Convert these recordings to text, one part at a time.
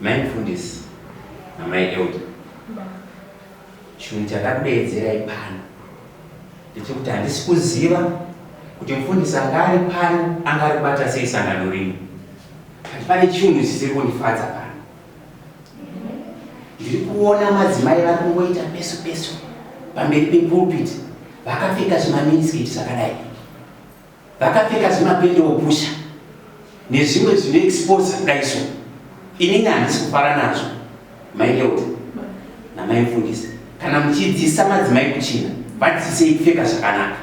Mai mfundisi namai elder, chinhu chandakudeedzerai pano ndechekuti handisi kuziva kuti mfundisi anga ari pano anga ari kubata sei sangano rino, but pane chinhu chisiri kundifadza pano. Ndiri kuona madzimai vari kungoita pesu pesu pamberi pepulpit vakapfeka zvimaminiskiti zvakadai vakapfeka zvimapende opusha nezvimwe zvine exposa kudaiso inini handisi kufara nazvo maileuta namaifundisa kana muchidzidzisa madzimai kuchina vadzidzisei kupfeka zvakanaka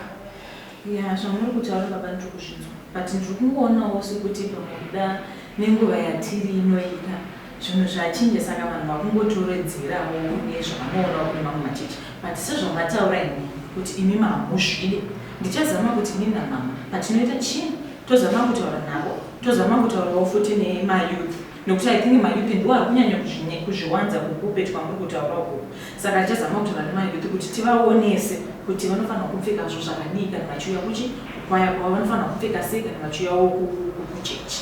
ya zvamuri kutaura baba ndiri kuzvinzwa but ndiri kungoonawo sekuti pamwe kuda nenguva yatiri inoita Zvinhu zvachinja saka vanhu vakungotowedzerawo nezvavanoona kune mamwe machechi but sezvamataura imi kuti imi mamuzvide ndichazama kuti ini namama patinoita chinhu tozama kutaura navo tozama kutaurawo futi nemayouth nokuti i think mayouth ndiwo ari kunyanya kuzvinye kuzviwanza kukupe twamuri kutaura ukuku saka tichazama kutaura nemayouth kuti tivaonese kuti vanofanira kupfekazvo zvakadii kana vachiuya kuchi kwaya kwavo vanofanira kupfeka sei kana vachiuyawo kuchechi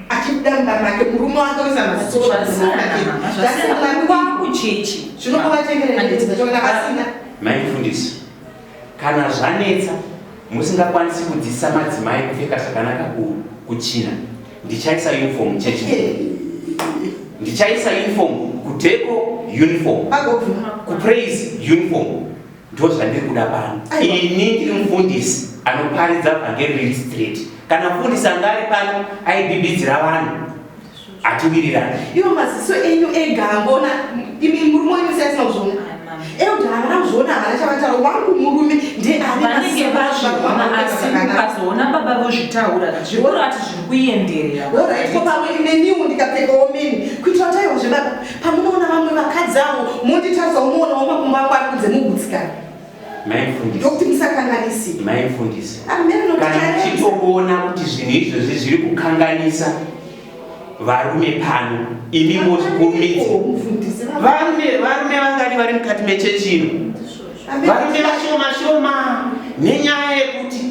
achibuda make murume wake usanazvakuchechi zvinokuvatengereaasina maifundisi kana zvanetsa musingakwanisi kudzidzisa madzimai kupfeka zvakanaka kuchina ndichaisa uniform chechi ndichaisa uniform kudeko uniform kupraise uniform ndozvandiri kuda pano ini ndiri mufundisi anoparidza vhangeri riri straight kana mufundisi anga ari pano aibibidzira vanhu atiwirirana ivo maziso enyu ega angona imi murume wenyu siyasina kuzvona euda havana kuzvona havana chavataro wangu murume ndeanevanenge vazviona asi ukazoona baba vozvitaura zvikurati zviri kuenderera orit ko pamwe neniwo ndikapfekawo mini kuitira taiwa zvebaba pamunoona vamwe vakadzi avo monditaza unoona wamakumbo ako ari kunze mugutsikana ndokuti musakanganisi maimfundisi kana uchitoona kuti zvinhu izvozvi zviri kukanganisa varume pano imi mozvikurumidzi varume varume vangani vari mukati mechechi ino varume vashoma shoma nenyaya yekuti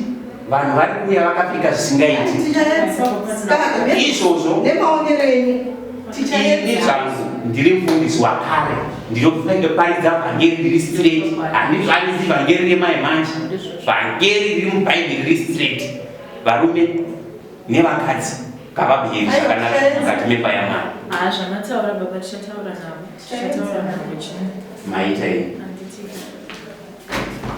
vanhu vari kuuya vakapfeka zvisingaiti izvozvo ini zvangu ndiri mufundisi wakare ndinofunga ngeparidza vhangeri riri straight handizvanisi vhangeri remai manje vhangeri riri mubhaibheri riri straight varume nevakadzi kavabheri zvakanaka mukati memba yamwari maita ini